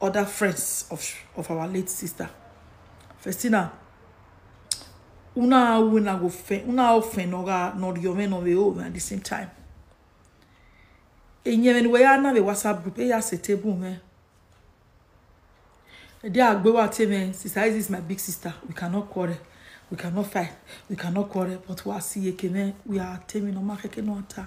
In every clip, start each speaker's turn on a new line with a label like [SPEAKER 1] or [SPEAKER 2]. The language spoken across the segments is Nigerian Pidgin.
[SPEAKER 1] other friends of of our late sister festina una una go fe una ofe no ga no rio me no we o at the same time enye me we ya na we whatsapp group e ya se table me e dey agbe wa te me sister Isis is my big sister we cannot quarrel we cannot fight we cannot quarrel but we are see ekene we are taming no ma keke no ata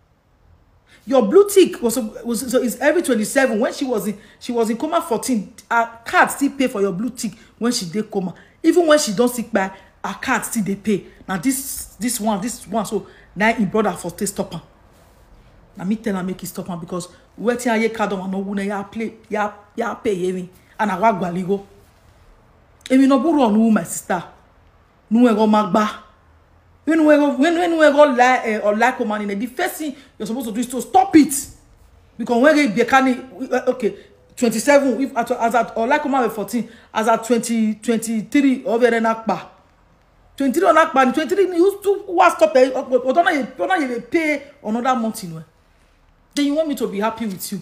[SPEAKER 1] Your blue tick was, was so it's every 27. When she was in she was in coma 14, her card still pay for your blue tick when she did coma. Even when she don't sick by her card still they pay. Now this this one, this one, so now in brother for stay stop her. Now me tell her make it stop her because where tia ye card on no wuna ya play ya ya pay ye me and I wag go. Emi no buru on my sister. nu ego magba when you go when when you go like uh, or like woman in the first thing you're supposed to do is to stop it because when they be can uh, okay 27 if at, as at or like woman 14 as at 20 23 over there na pa 23 on akpa ni 23 ni who who wa stop there but don't you don't you pay another month in where then you want me to be happy with you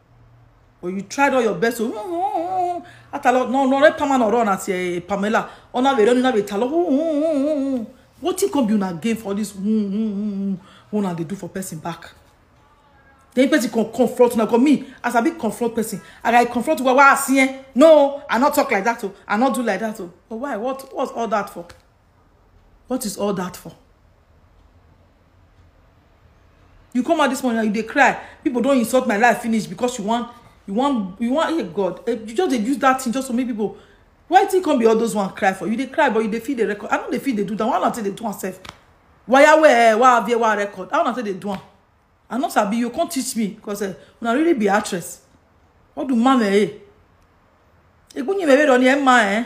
[SPEAKER 1] Or you tried all your best to atalo no no re pama no run as e Pamela ona be run na be talo wetin come be una gain for this una dey do for person back then person come confront una come me as i be confront person and i confront you well well as eh no i no talk like that o i no do like that o but why what what's all that for What is all that for? You come out this morning and you dey cry. People don't insult my life finish because you want you want you want hey God. Eh, you just dey use that thing just to make people why it come be all those one cry for you dey cry but you dey feel the record i no dey feel dey do that one na take dey do am sef waya where wa avie wa record i no take dey do am i no sabi you come teach me because uh, una really be actress ọdún mama ẹ egbunyi mẹrẹ rọ ni ẹ ma ẹ. Eh?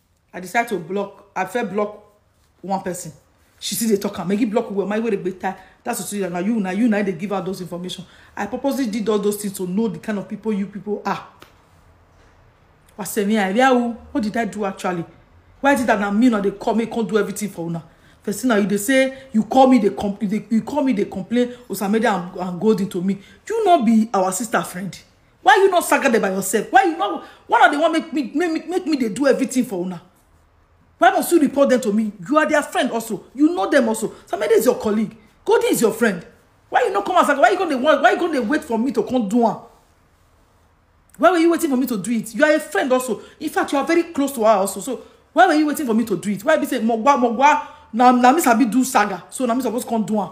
[SPEAKER 1] I decide to block. I first block one person. She still dey talk am. Maggie block well. My way dey tie. That's what you now. You now. You now. They give out those information. I purposely did all those things to know the kind of people you people are. I say me, I real. What did I do actually? Why did that now me now they call me can't do everything for una? First now you they say you call me they com you, dey, you call me they complain Osamede and, and Golden to me. You not be our sister friend. why you not saga there by yourself why you not why not they want make me make me make me they do everything for una why must you report them to me you are their friend also you know them also somebody is your colleague Cody is your friend why you not come as saga why you gonna want why you gonna wait for me to come do one why were you waiting for me to do it you are a friend also in fact you are very close to her also so why were you waiting for me to do it why be say mogwa mogwa na na me sabi do saga so na me suppose come do one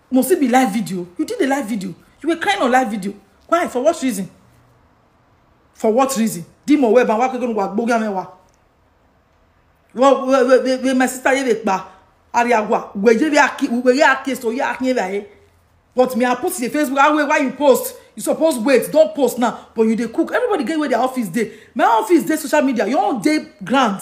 [SPEAKER 1] must it be live video you did a live video you were crying on live video why for what reason for what reason di mo we ba wa pe ko wa gboga mewa wo we we my sister ye pa ari agwa we je bi aki we ye aki so ye aki ba ye but me i post the facebook ah why you post you suppose wait don't post now but you dey cook everybody get where their office dey my office dey social media your own dey ground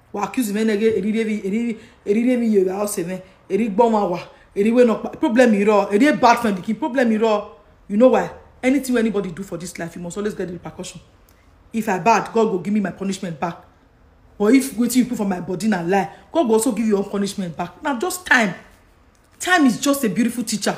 [SPEAKER 1] wa accuse me nege eri re mi eri eri re mi yere house me eri gbo ma wa eri we no pa problem iro eri a bad friend ki problem iro you know why anything wey anybody do for this life you must always get the repercussion if i bad god go give me my punishment back but if wetin you put for my body na lie god go also give you your own punishment back na just time time is just a beautiful teacher